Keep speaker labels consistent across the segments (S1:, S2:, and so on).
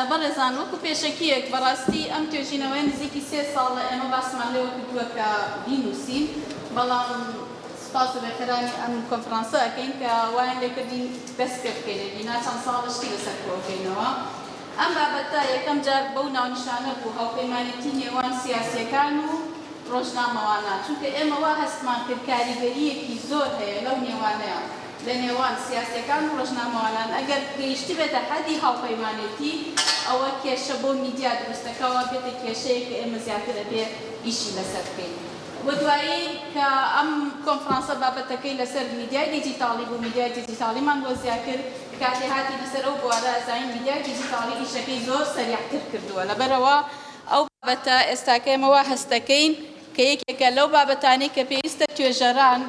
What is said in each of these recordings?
S1: بەڕێزان وەکو پێشەکیەک بەڕاستی ئەم توێژینەوەیە نزیکی سێ ساڵە ئێمە باسمان لێوە کردووە کە بینووسین بەڵام سپاس و بەرکەرانی ئەم کۆنفرانسە ئەکەین کە وایان لێکردین دەست پێ بکەین ئەگینا چەند ساڵە شتی لەسەر کۆکەینەوە ئەم بابەتە یەکەم جار بەو ناونیشانە بوو، هاوپەیمانێتی نێوان سیاسییەکان و ڕۆژنامەوانان، چونکە ئێمە وا هەستمان کرد کاریگەرییەکی زۆر هەیە لەو نێوانەیا، لە نێوان سیاسییەکان و ڕۆژنامەوانان، ئەگەر گەیشتبێتە حەدی هاوپەیمانێتی، ئەوە کێشە بۆ میدیا دروست دەکا، وا بێتە کێشەیەک کە ئێمە زیاتر ئەبێ ئیشی لەسەر بکەین و دوایی کە ئەم کۆنفرانسە بابەتەکەی لەسەر میدیای دیجیتاڵی بوو، میدیای دیجیتاڵیمان وەزیا کرد، کاتێ هاتینە سەر ئەو بوارە زانین میدیای دیجیتاڵی ئیشەکەی زۆر سەریعتر کردووە لەبەرئەوە ئەو بابەتە ئێستاکە ئێمە وا هەستدەکەین کە یەکێکە لەو بابەتانەی کە پێویستە توێژەران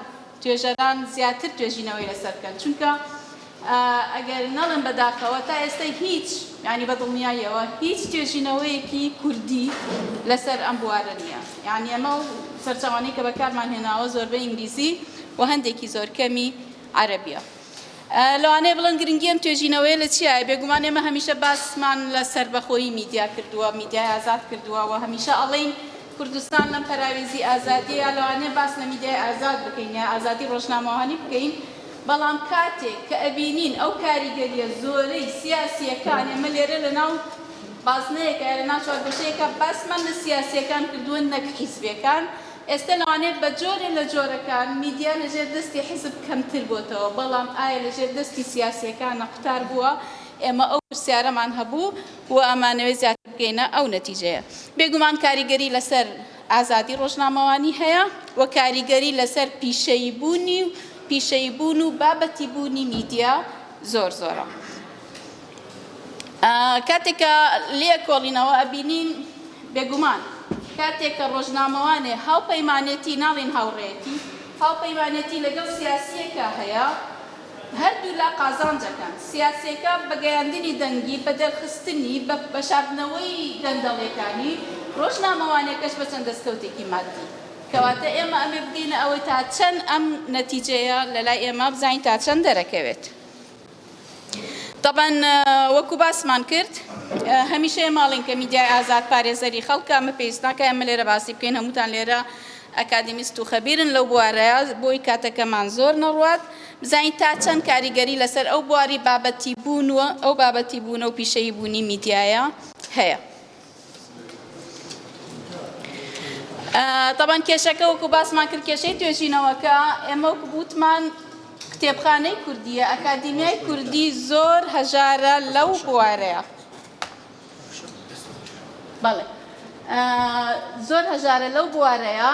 S1: توێژەران زیاتر توێژینەوەی لەسەر بکەن چونکە ئەگەر نەڵێم بەداخەوە تا ئێستە هیچ یانی بەدڵنیاییەوە هیچ توێژینەوەیەکی کوردی لەسەر ئەم بوارە نییە یانی ئەمە و سەرچاوانەی کە بەکارمان هێناوە زۆربەی ئینگلیزی و هەندێکی زۆر کەمی عەرەبیە لەوانەیە بڵێن گرنگی ئەم توێژینەوەیە لە چیایە؟ بێگومان ئێمە هەمیشە باسمان لە سەربەخۆیی میدیا کردووە، میدیای ئازاد کردووە و هەمیشە ئەڵێین کوردستان لەم پەراوێزی ئازادییە لەوانەیە باس لە میدیای ئازاد بکەین یا ئازادی ڕۆژنامەوانی بکەین، بەڵام کاتێک کە ئەبینین ئەو کاریگەرییە زۆرەی سیاسییەکان، ئێمە لێرە لەناو بازنەیەکە یا لەناو چوارگۆشەیەکە باسمان لە سیاسییەکان کردووە نەک حیزبییەکان، ئێستا لەوانەیە بە جۆرێ لە جۆرەکان میدیا لە ژێر دەستی حیزب کەمتر بۆتەوە، بەڵام ئایا لە ژێر دەستی سیاسییەکانە قوتار بووە؟ ئێمە ئەو پرسیارەمان هەبوو و ئەمانەوێ زیاتر بگەینە ئەو نەتیجەیە. بێگومان کاریگەری لەسەر ئازادی ڕۆژنامەوانی هەیە و کاریگەری لەسەر پیشەیی بوونی و پیشەیی بوون و بابەتی بوونی میدیا زۆر زۆرە. کاتێک کە لێکۆڵینەوە ئەبینین بێگومان کاتێک کە ڕۆژنامەوانێ هاوپەیمانێتی ناڵین هاوڕێیەتی هاوپەیمانێتی لەگەڵ سیاسیەکە هەیە هەردوولا قازانجەکەن سیاسیەکە بە گەیاندنی دەنگی بە دەرخستنی بە بە شاردنەوەی گەندەڵیەکانی ڕۆژنامەوانێکەش بە چەند دەستکەوتێکی مادی کەواتە ئێمە ئەمێ بگەینە ئەوەی تا چەند ئەم نەتیجەیە لەلای ئێمە بزانین تا چەند دەرەکەوێت. تەبعەن وەکو باسمان کرد هەمیشە ئێمە ئەڵێن کە میدیای ئازاد پارێزەری خەڵکە ئەمە پێویست ناکە ئێمە لێرە باسی بکەین هەمووتان لێرە ئەکادیمیست و خەبیرن لەو بوارەیە بۆی کاتەکەمان زۆر نەڕوات بزانین تا چەند کاریگەری لەسەر ئەو بواری بابەتی بوون و ئەو بابەتی بوونە و پیشەیی بوونی میدیایە هەیە. تەبەن کێشەکە وەکو باسمان کرد کێشەی توێژینەوەکە ئێمە وەکو بوتمان کتێبخانەی کوردیە ئەکادیمیای کوردی زۆر هەژارە لەو بوارەیە بەڵێ زۆر هەژارە لەو بوارەیە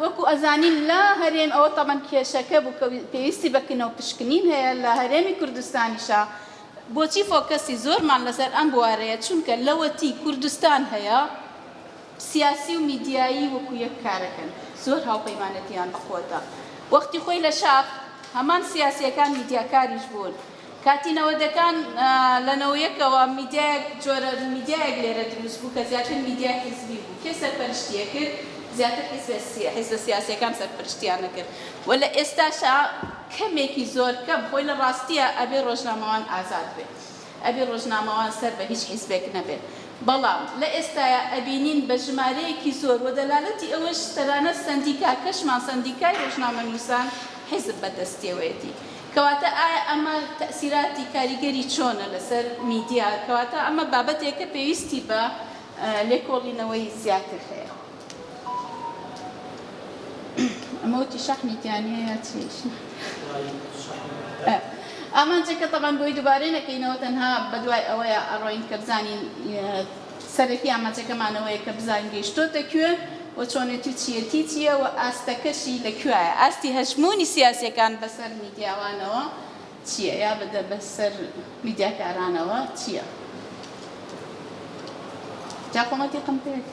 S1: وەکو ئەزانین لە هەرێم ئەوە تەبەن کێشەکە بوو کە پێویستی بە کنە و پشکنین هەیە لە هەرێمی کوردستانیشا بۆچی فۆکەسی زۆرمان لەسەر ئەم بوارەیە چونکە لەوەتی کوردستان هەیە سیاسی و میدیایی وەکو یەک کارەکەن زۆر هاوپەیمانێتیان بە قوەتە وەختی خۆی لە شاخ هەمان سیاسیەکان میدیاکاریش بوون کاتی نەوەدەکان لە نەوەیەکەوە میدیایەک جۆرە میدیایەک لێرە دروست بوو کە زیاتر میدیای حیزبی بوو کێ سەرپەرشتی ئەکرد زیاتر حیزبە سیاسیەکان سەرپەرشتیان ئەکرد و لە ئێستاشا کەمێکی زۆر کەم خۆی لە ڕاستیا ئەبێ ڕۆژنامەوان ئازاد بێ ئەبێ ڕۆژنامەوان سەر بە هیچ حیزبێک نەبێ بەڵام لە ئێستایا ئەبینین بە ژمارەیەکی زۆر وە دەلالەتی ئەوەش تەنانەت سەندیکاکەشمان سەندیکای ڕۆژنامەنوسان حیزب بە دەستیەوەیەتی کەواتە ئایا ئەمە تەئسیراتی کاریگەری چۆنە لەسەر میدیا؟ کەواتە ئەمە بابەتێکە پێویستی بە لێکۆڵینەوەی زیاتر هەیە. ئەمە وتی شەحنی تیانیە یا چی؟ ئامانجەکە تەبعەن بۆی دوبارەی نەکەینەوە تەنها بەدوای ئەوەیا ئەڕۆین کە بزانین سەرەکی ئامانجەکەمان ئەوەیە کە بزانین گەیشتۆتە کوێ و چۆنێتی و چییەتی چییە و ئاستەکەشی لە کوێایە، ئاستی هەژموونی سیاسییەکان بەسەر میدیاوانەوە چییە یا بەسەر میدیاکارانەوە چییە. جا خۆمە تیقم پێت.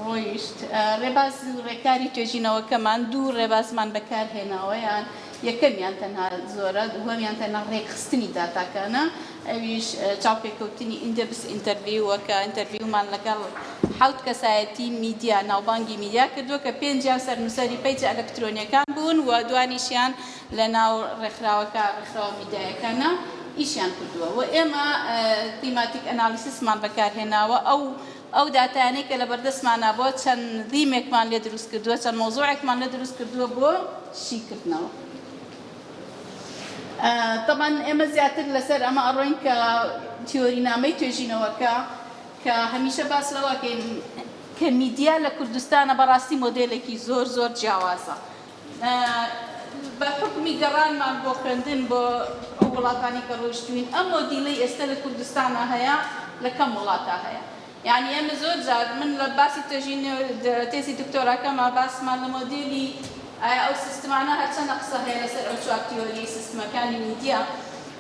S1: ڕۆیشت. ڕێباز و ڕێکاری توێژینەوەکەمان دوو ڕێبازمان بەکارهێناوەیان، یەکەمیان تەنها زۆرە، دووهەمیان تەنها ڕێکخستنی داتاکانە، ئەویش چاوپێکەوتنی ئیندێپس ئینتەرڤیوەکە، ئینتەرڤیومان لەگەڵ حەوت کەسایەتی میدیا، ناوبانگی میدیا کردووە کە پێنجیان سەرنووسەری پەیجە ئەلەکترۆنییەکان بوون و دوانیشیان لەناو ڕێکخراوەکە، ڕێکخراوە میدیایەکانە ئیشیان کردووە و ئێمە Thematic Analysis مان بەکارهێناوە، ئەو. ئەو داتایانەی کە لەبەردەستمانە بۆ چەند ذیمێکمان لێ دروست کردووە، چەند مەوزوعێکمان لێ دروست کردووە بۆ شیکردنەوە. تەبعەن ئێمە زیاتر لەسەر ئەمە ئەڕۆین کە تیۆرینامەی توێژینەوەکە کە هەمیشە باس لەوە ئەکەین کە میدیا لە کوردستانە بەڕاستی مۆدێلێکی زۆر زۆر جیاوازە بە حوکمی گەڕانمان بۆ خوێندن بۆ ئەو وڵاتانەی کە ڕۆیشتووین ئەم مۆدیلەی ئێستە لە کوردستانا هەیە لە کەم وڵاتا هەیە یانی ئێمە زۆر جار من لە باسی تێژین تێزی دکتۆراکەما باسمان لە مۆدیلی ئایا ئەو سیستمانە هەرچەندە قسە هەیە لەسەر ئەو چوار تیۆری سیستمەکانی میدیا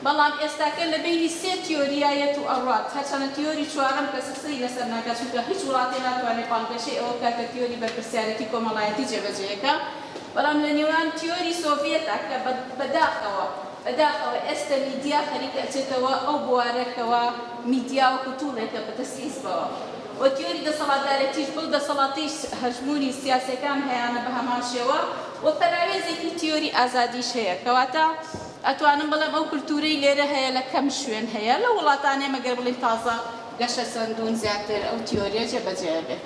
S1: بەڵام ئێستاکە لە بەینی سێ تیۆرییە یە تو ئەڕوات، هەرچەنە تیۆری چوارەم کەسە سەری لەسەر ناکات، چونکە هیچ وڵاتێ ناتوانێ بانگەشەی ئەوە بکات کە تیۆری بەرپرسیارێتی کۆمەڵایەتی جێبەجێیەکە، بەڵام لە نێوان تیۆری سۆڤیەتە کە بە بە داخەوە بە داخەوە ئێستە میدیا خەریکە ئەچێتەوە ئەو بوارە کەوا میدیا وەکو توڵێکە بە دەست حیزبەوە و تیۆری دەسەڵاتدارێتیش بەو دەسەڵاتەی هەژموونی سیاسیەکان هەیانە بە هەمان شێوە و پەراوێزێکی تیۆری ئازادیش هەیە کەواتە ئەتوانم بڵێم ئەو کلتورەی لێرە هەیە لە کەم شوێن هەیە لەو وڵاتانەی مەگەر بڵێین تازە گەشەسەندوون زیاتر ئەو تیۆریە جێبەجێ ئەبێت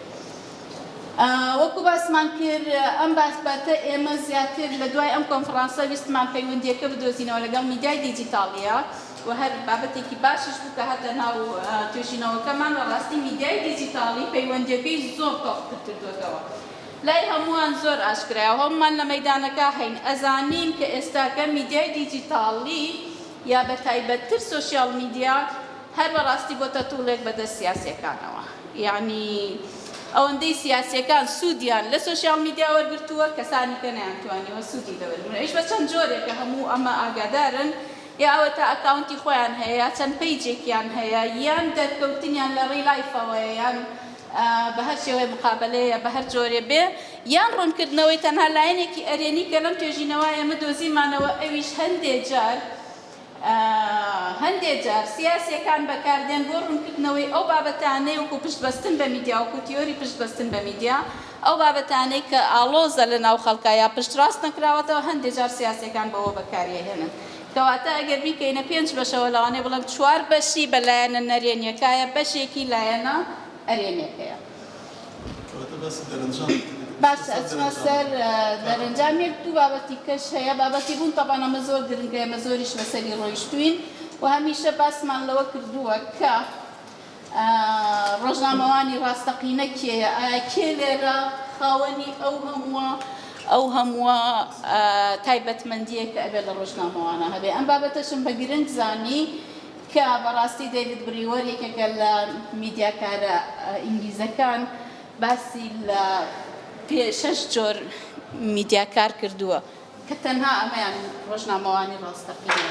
S1: وەکو باسمان کرد ئەم باسبەتە ئێمە زیاتر لە دوای ئەم کۆنفرانسە ویستمان پەیوەندیەکە بدۆزینەوە لەگەڵ میدیای دیجیتاڵیە و هەر بابەتێکی باشش بوو کە هاتە ناو توێژینەوەکەمان بەڕاستی میدیای دیجیتاڵی پەیوەندیەکەی زۆر تۆخ تر کردۆتەوە لای هەمووان زۆر ئاشکرایە و هەموومان لە مەیدانەکە هەین، ئەزانین کە ئێستاکە میدیای دیجیتاڵی یا بە تایبەتتر سۆشیاڵ میدیا هەر بە ڕاستی بۆتە توڵێک بە دەست سیاسیەکانەوە، یەعنی ئەوەندەی سیاسیەکان سوودیان لە سۆشیاڵ میدیا وەرگرتووە کەسانی کە نەیانتوانیوە سوودی لێ وەرگرن ئەویش بە چەند جۆرێکە هەموو ئەمە ئاگادارن یا ئەوەتا ئەکاونتی خۆیان هەیە یا چەند پەیجێکیان هەیە یان دەرکەوتنیان لە ڕیلایفەوەیە یان بە هەر شێوەیە مقابەلەیە بە هەر جۆرێ بێ یان ڕوونکردنەوەی تەنها لایەنێکی ئەرێنی کە لەم توێژینەوە ئێمە دۆزیمانەوە ئەویش هەندێ جار هەندێ جار سیاسیەکان بەکاردێن بۆ ڕوونکردنەوەی ئەو بابەتانەی وەکو پشت بەستن بە میدیا وەکو تیۆری پشت بەستن بە میدیا ئەو بابەتانەی کە ئاڵۆزە لە ناو خەڵکا یا پشتڕاست نەکراوەتەوە هەندێ جار سیاسیەکان بەوە بەکاریەهێنن کەواتە ئەگەر بیکەینە پێنج بەشەوە لەوانەیە بڵێم چوار بەشی بە لایەنە نەرێنیەکایە بەشێکی لایەنە ئەرێنیەکەیە. باشە ئەچمە سەر دەرەنجام یەک دوو بابەتی کەش هەیە بابەتی بوون تەبان ئەمە زۆر گرنگە ئێمە زۆریش لەسەری ڕۆیشتوین و هەمیشە باسمان لەوە کردووە کە ڕۆژنامەوانی ڕاستەقینە کێیە؟ ئایا کێ لێرە خاوەنی ئەو هەمووە ئەو هەمووە تایبەتمەندیە کە ئەبێ لە ڕۆژنامەوانە هەبێ؟ ئەم بابەتەشم بە گرنگ زانی کە بەڕاستی دەیڤد بریوەر یەکێکە لە میدیاکارە ئینگلیزەکان باسی لە پێ شەش جۆر میدیاکار کردووە کە تەنها ئەمەیان ڕۆژنامەوانی ڕاستەقینە.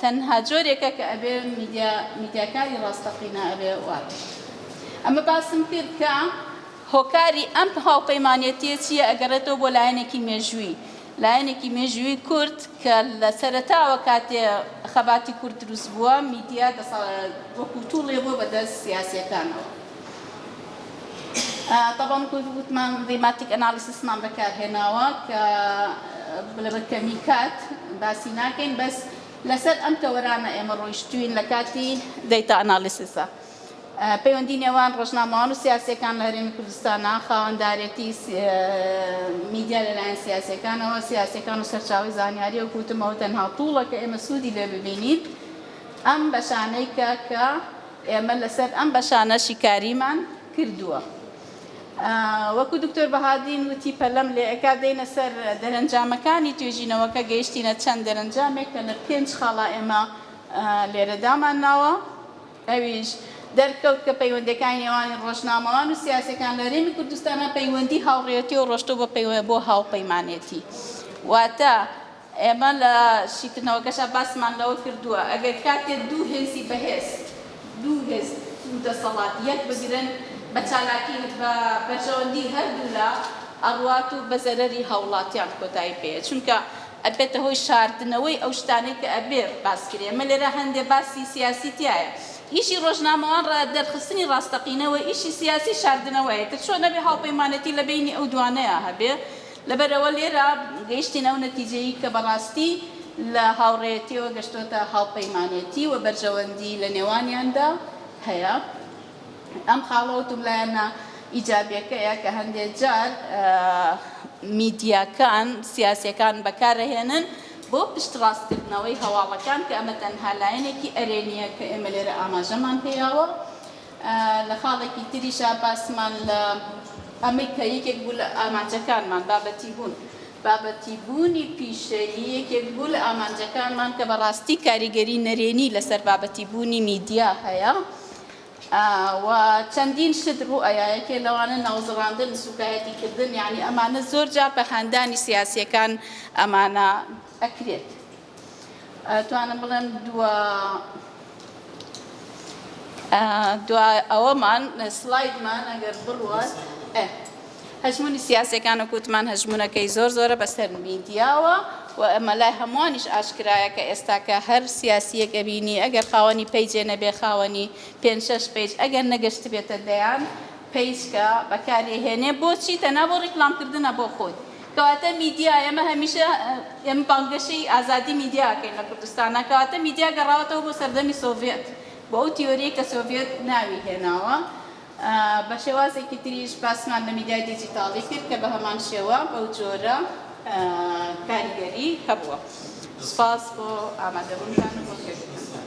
S1: تەنها جۆرێکە کە ئەبێ میدیا میدیاکاری ڕاستەقینە ئەبێ وا بێت ئەمە باسم کرد کە هۆکاری ئەم هاوپەیمانێتیە چیە ئەگەڕێتەوە بۆ لایەنێکی مێژووی لایەنێکی مێژووی کورد کە لە سەرەتاوە کاتێ خەباتی کورد دروست بووە میدیا دەسەڵ وەکو توڵێ بووە بەدەست سیاسیەکانەوە. تەبەن گوت وتمان ریماتیک ئەنالیسیسمان بەکارهێناوە کە لەبەر کەمی کات باسی ناکەین بەس لەسەر ئەم تەوەرانە ئێمە ڕۆیشتوین لە کاتی دەیتا ئەنالیسیسە پەیوەندی نێوان ڕۆژنامەوان و سیاسەکان لە هەرێمی کوردستانە خاوەندارێتی میدیا لەلایەن سیاسەکانەوە سیاسەکان و سەرچاوی زانیاری و کوتمەوە تەنها توڵە کە ئێمە سوودی لێ ببینین ئەم بەشانەی کە کە ئێمە لەسەر ئەم بەشانە شیکاریمان کردووە. وەکو دکتۆر بەهادین وتی پەلەم لێ ئەکا دێینە سەر دەرەنجامەکانی توێژینەوەکە گەیشتینە چەند دەرەنجامێک کە لە پێنج خاڵا ئێمە لێرە دامان ناوە ئەویش دەرکەوت کە پەیوەندیەکانی نێوانی ڕۆژنامەوان و سیاسیەکان لە هەرێمی کوردستانا پەیوەندی هاوڕێیەتی و ڕۆشتوە بۆ هاوپەیمانێتی واتە ئێمە لە شیکردنەوەکەشا باسمان لەوە کردووە، ئەگەر کاتێ دوو هێزی بەهێز، دوو هێز و دەسەڵات یەک بگرن، بە چالاکی بە بەرژەوەندی هەردوولا ئەڕوات و بە زەرەری هاووڵاتیان کۆتایی پێیە، چونکە ئەبێتە هۆی شاردنەوەی ئەو شتانەی کە ئەبێ باس کرێ، ئەمە لێرە هەندێ باسی سیاسی تیایە، ئیشی ڕۆژنامەوان ڕە دەرخستنی ڕاستەقینە وە، ئیشی سیاسی شاردنەوەیە، ئیتر چۆن ئەبێ هاوپەیمانێتی لە بەینی ئەو دوانەیا هەبێ؟ لەبەرئەوە لێرە گەیشتینە ئەو نەتیجەی کە بەڕاستی لە هاوڕێیەتیەوە گەشتۆتە هاوپەیمانێتی و بەرژەوەندی لە نێوانیاندا هەیە. ئەم خاڵە وتم لایەنە ئیجابیەکەیە کە هەندێ جار میدیاکان، سیاسیەکان بەکارئەهێنن بۆ پشتڕاستکردنەوەی هەواڵەکان کە ئەمە تەنها لایەنێکی ئەرێنیە کە ئێمە لێرە ئاماژەمان پێیاوە لە خاڵێکی تریشا باسمان لە ئەمەی کە یەکێک بوو لە ئامانجەکانمان بابەتی بوون، بابەتی بوونی پیشەیی یەکێک بوو لە ئامانجەکانمان کە بە ڕاستی کاریگەری نەرێنی لە سەر بابەتی بوونی میدیا هەیە و چەندین شت ڕوو ئەیا یەکێ لەوانە ناوزڕاندن، سوکایەتی کردن یانی ئەمانە زۆر جار بە هاندانی سیاسیەکان ئەمانە ئەکرێت. ئەتوانم بڵێم دوا دوا ئەوەمان سلایدمان ئەگەر بڕوات ئە هەژمونی سیاسەکان و کوتمان هەژمونونەکەی زۆر زۆرە بەسەر میدیاوە و ئەمە لای هەمووانیش ئاشکرایە کە ئێستاکە هەر سیاسیەک ئەبینی ئەگەر خاوەنی پەیجێ نەبێ خاوەنی پێ شش پێج ئەگەر نەگەشت بێتە دەیان پیسکە بەکارێهێنێ بۆچی تەنا بۆ ڕیکلامکردنە بۆ خۆی کەواتە میدیا، ئێمە هەمیشە ئێمە بانگەشەی ئازادی میدیا ئەکەین لە کوردستانا، کەواتە میدیا گەڕاوەتەوە بۆ سەردەمی سۆڤێت، بۆ ئەو تیۆریەی کە سۆڤێت ناوی هێناوە، بە شێوازێکی تریش باسمان لە میدیای دیجیتاڵی کرد کە بە هەمان شێوە بەو جۆرە کاریگەری هەبووە. سوپاس بۆ ئامادەبوونتان و بۆ گوێگرتنتان.